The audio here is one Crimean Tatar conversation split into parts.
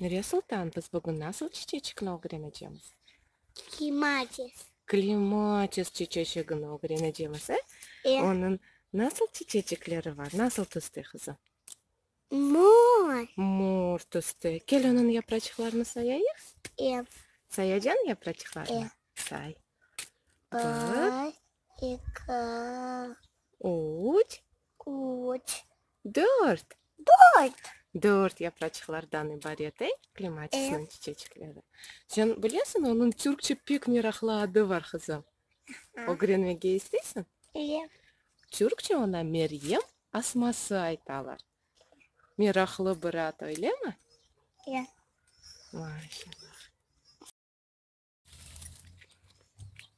Nuriye Sultan, biz bugün nasıl çiçeçikni ögrenecemiz? Klimatis. Klimatis çiçeçigini ögrenecemiz, e? E. Onıñ nasıl çiçeçikleri var, nasıl tüste qızım? Mor. Mor tüste. Kel onıñ yapraçıqlarını sayayıq. E. Sayacan yapraçıqlarını? E. Say. Bir, İki. Üç. Üç. Dört. Dört. Dört yapraçıqlardan ibaret, ey, klematisniñ çiçecikleri. Sen bilesiñ, onıñ türkçe pek meraqlı adı bar, qızım. Ögrenmege isteysiñ? İyi. Türkçe ona Meryem asması aytalar. Meraqlı bir ad, öylemi? İyi. Maşallah.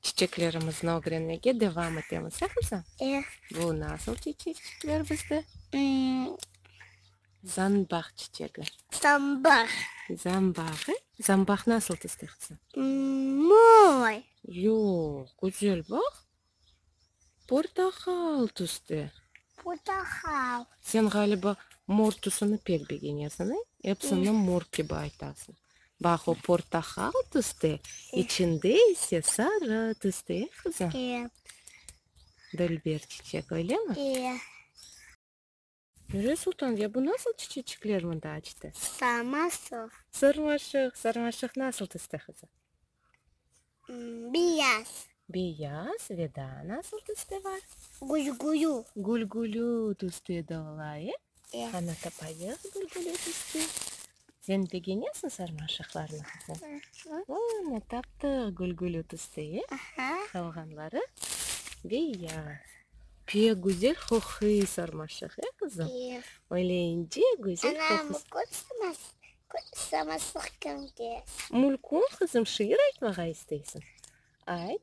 Çiçeklerimizni ögrenmege devam etemiz, ya qızım? E. Bu nasıl çiçekler bizde? Zambaq çiçegi. Zambaq. Zambaq, e? Zambaq nasıl tizdi, qızım? Moy. Yoq, güzel, bax. Portahal tüste. Portahal. Sen ğaliba mor tüsüni pek begenesiñ, e? Epsini mor kibi aytasıñ. Baq, o portahal tüste, içinde ise sarı tüste, e, qızım? E. Dülber çiçek, öylemi? E. Dürre sultan, ya bu nasıl çiçeçikler mında açtı? Sarmaşıq. Sarmaşıq, sarmaşıq nasıl tüste qızım? Beyaz. Beyaz ve daa nasıl tüste bar? Gülgülü. Gülgülü tüste de ola, e? E. Qana tapayıq gülgülü tüste. Sen begenesiñ sarmaşıqlarnı, qızım? Aha. Ana, taptıq gülgül ötüsi, e? Aha. Qalğanları beyaz. Pek güzel qoquy sarmaşıq, e, qızım? Ye. Öyle ince, güzel qoqusı. Ana, mülkün sarmaşıq, sarmaşıq kimde? Mülkün, qızım, şiir aytmağa isteysiñ? Ayt.